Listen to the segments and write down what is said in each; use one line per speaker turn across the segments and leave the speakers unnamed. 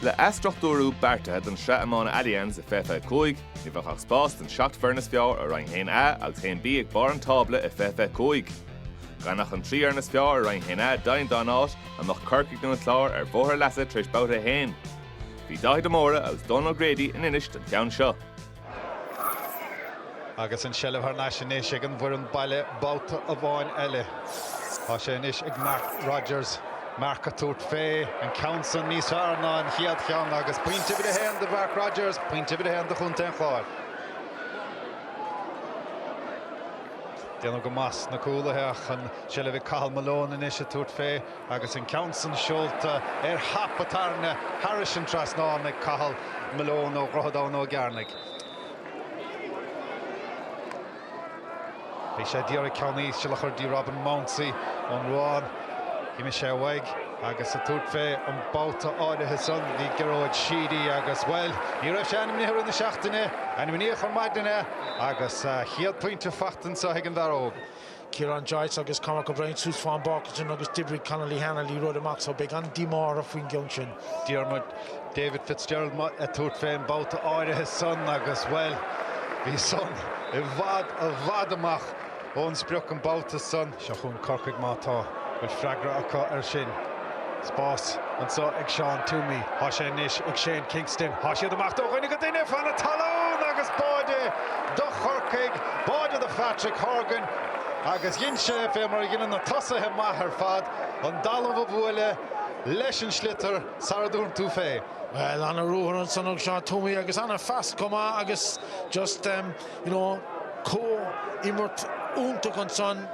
Le athstruchtúrú beartaithe don sraith iomána Allianz i fiche fiche cúig, ní bheadh ach spás don seacht foireann is fearr i Roinn 1A agus 1B ag barr an tábla i fiche fiche cúig. Gan ach an trí fhoireann is fearr i Roinn 1A deimhin dá n-áit, an mbeadh Corcaigh nó an Clár ar bhóthar leasa tar éis Babhta 1? Bhí Dáithí de Mórdha agus Dónal O'Grady in Inis don cheann seo.
Agus an tseilbh thar n-ais anois ag an bhfoireann baile babhta amháin eile, tá sé anois ag Mark Rodgers Mark ag tabhairt fé an ceann san níos fearr ná an chéad cheann agus pointe uimhir a haon do Mhark Rodgers, pointe uimhir a haon do Chontae an Chláir. Déanamh go maith ag na cúlaithe ach an tseilbh ag Cathal Malone anois ag tabhairt fé. Agus an ceann san seolta ard thar bata tarna thairis an trasnán ag Cathal Malone ó Dhroichead Abhann Ó gCearnaigh, bhí sé ag iarraidh ceann íseal a chur dtí Robin Mounsey ón Ruán. D'imigh sé uaidh agus ag tabhairt fé an babhta áirithe san bhí Gearóid Sheedy agus, bhuel, ní raibh sé ainmnithe rith na seachtaine, ainmníodh ar maidin é agus a chéad pointe fachta anso ag an bhfear óg. Kieran
Joyce agus Cormac O'Brien suas fén bpáirc san agus d'oibrigh Connolly Lehane rud amach so beidh an-díomá orthu faoin gceann sin. Diarmuid
David Fitzgerald ag tabhairt fé an babhta áirithe san agus, bhuel, bhí san i bhfad, i bhfad amach ón sprioc an babhta san. Seo chun Corcaigh má tá. Bhfuil freagra acu ar sin? spás anso ag Seán Twomey. Thá sé anois ag Shane Kingston. Thá siad amach dó dhuine go duine fan na talún agus báide do Chorcaigh, báide do Phatrick Horgan agus dhein sé, fé mar a dheineann na tosaithe maithe ar fad, an dtalamh a bhualadh leis an sliotar sara dtabharfadh tú fé. Bhuel,
ana-ruathar ansan ag Seán Twomey agus ana-phas chomh maith agus just, you know, comh-imirt iontach ansan.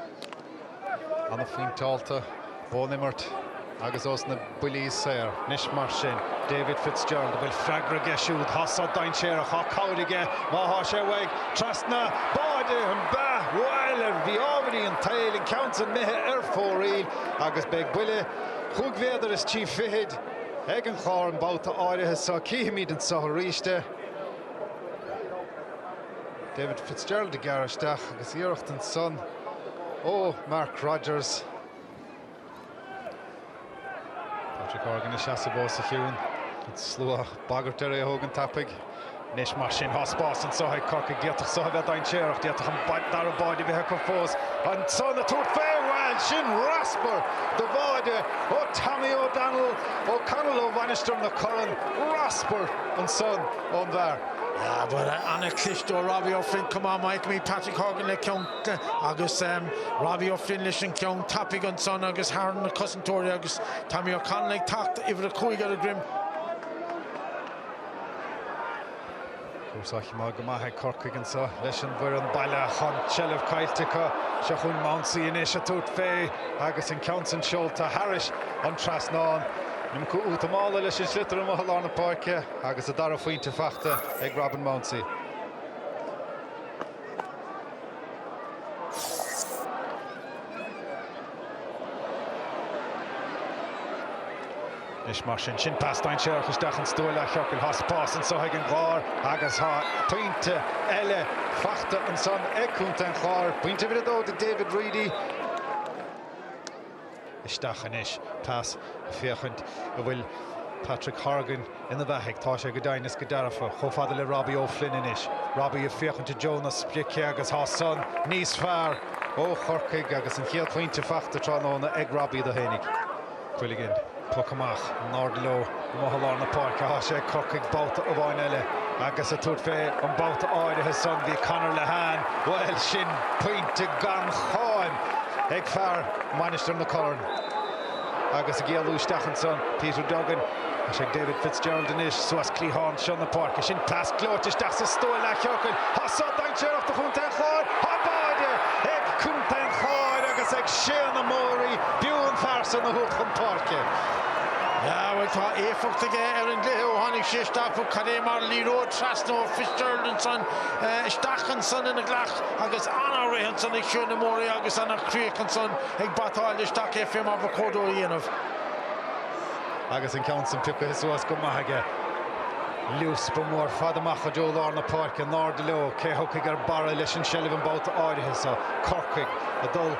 an-phointeáilte ón imirt agus ós na buillí saor. Anois mar sin, David Fitzgerald, an bhfuil freagra aige siúd, tá so dainséarach, tá cabhair aige má tá sé uaidh, trasna, báide, an ea, bhuel, ar mhí-ámharaí an tsaoil, an ceann san imithe ar fóraoil agus beidh buille chúig mhéadar is trí fichid ag an Chlár an babhta áirithe seo. Cífimid anseo aríst é. David Fitzgerald ag gearradh isteach agus iarracht ansan ó Mark Rodgers. Patrick Horgan ina sheasamh fós go ciúin. An slua ag bagairt air é a thógaint tapaidh. Anois mar sin thá spás anso ag Corcaigh. D'fhéadfadh so a bheith dainséarach. D'fhéadfadh an dara báide bheith acu fós. Ansan ag tabhairt fé! Bhuel, sin raspar de bháide ó Tommy O'Donnell. O'Connell ó Mhainistir na Corann. Raspar ansan. ón bhfear. Yeah
bhuel an-chliste ó Robbie O'Flynn, chonaic muid Patrick Horgan le ceann agus Robbie O'Flynn leis an gceann tapaidh ansan agus thar na cosantóirí agus Tommy O'Connell ag teacht, uimhir a cúig ar a dhroim.
Cúrsaí maith go maith ag Corcaigh anseo leis an bhfoireann baile chun seilbh caillte acu. Seo chugainn Mounsey anois ag tabhairt fé agus an ceann san seolta thairis an trasnán. An iomarca útamála leis an sliotar amuigh i lár na páirce. Agus a dara phointe fachta ag Robin Mounsey. Anois mar sin, sin pas dainséarach isteach insa stua leathchiorcail. Thá spás anso ag an gClár agus thá pointe eile fachta ansan ag Contae an Chláir. Pointe uimhir a dó do David Reidy. isteach anois. Tá sé a' féachaint a' bhfuil Patrick Horgan ina bheathaigh. Tá sé go deimhin is go dearfa. Chomh fada le Robbie O'Flynn anois. Robbie ag féachaint i dtreo na sprice agus thá san níos fearr ó Chorcaigh agus an chéad phointe fachta tráthnóna ag Robbie dó fhéinig. Quilligan, poc amach, in airde leo. amuigh i lár na páirce. Thá sé ag Corcaigh babhta amháin eile agus, ag tabhairt fé an babhta áirithe san, bhí Conor Lehane, bhuel, sin pointe gan cháim ag fear Mhainistir na Corann. Agus ag éalú isteach ansan, Peter Duggan. Tá sé ag David Fitzgerald anois, suas cliathán seo na páirce. Sin pas gleoite isteach sa stua leathchiorcail. Thá so dainséarach do Chontae an Chláir thá báide ag Contae an Chláir agus ag Shane Amori, b'fhiú an fear san a thabhairt chun páirce. Yeah
bhuel Tá éifeacht aige ar an gcluiche ó tháinig sé isteach bhuel cad é mar liathróid trasna ó Fitzgerald ansan isteach ansan ina ghlac agus ana-rith ansan ag Shane Amori agus ana chríoch ansan ag batáil isteach é fé mar ba chóir dó a
dhéanamh. Agus an ceann san piocaithe suas go maith aige. Luas ba mhór fad amach i dtreo lár na páirce in airde leo cé a thiocfaidh ar barra leis an tseilbh an babhta áirithe so. Corcaigh a' dul.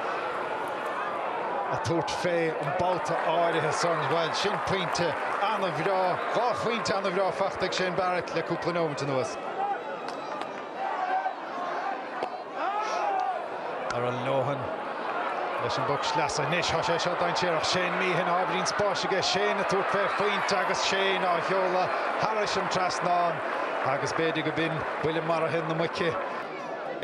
ag tabhairt fé an babhta áirithe san. Bhuel, sin pointe an-bhreá, dhá phointe an-bhreá fachta ag Shane Barrett le cúpla nóimint anuas. Darragh Lohan leis an bpoc sleasa anois, tá sé seo dainséarach. Shane Meehan, ábhairín spáis aige, Shane ag tabhairt fé phointe agus Shane á sheoladh thairis an trasnán agus b'fhéidir go b'in buille maraithe na muice.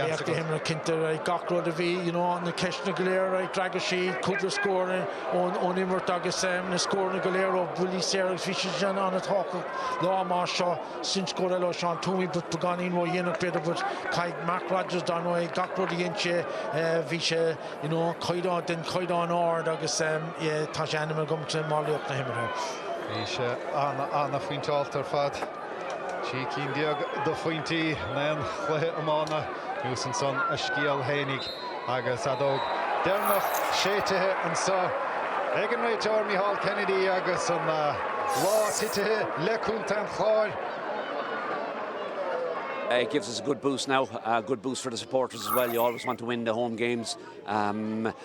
Laoch na
himeartha cinnte, gach rud a bhí, you know, na ceisteanna go léir, d'fhreagair sé cúpla scór ón imirt agus na scóranna go léir ó bhuillí saora agus bhí siad sin an-tábhachtach lá mar seo, sin scór eile ó Seán Twomey but beagáinín ródhéanach b'fhéidir but caithfidh Mark Rodgers dar ndóigh, gach rud a dhein sé bhí sé, you know, caighdeán, den chaighdeán ard agus yeah tá sé ainmnithe agam mar laoch na himeartha. Bhí sé
an-an-phointeáilte ar fad. Trí cinn déag de phointí in aon chluiche iomána, insíonn san a scéal fhéinig, agus an fheadóg deireanach séidte anseo ag an réiteoir Micheál Kennedy agus an lá tabhartha le Contae an
Chláir. It gives us a good boost now, a good boost for the supporters as well, you always want to win the home games.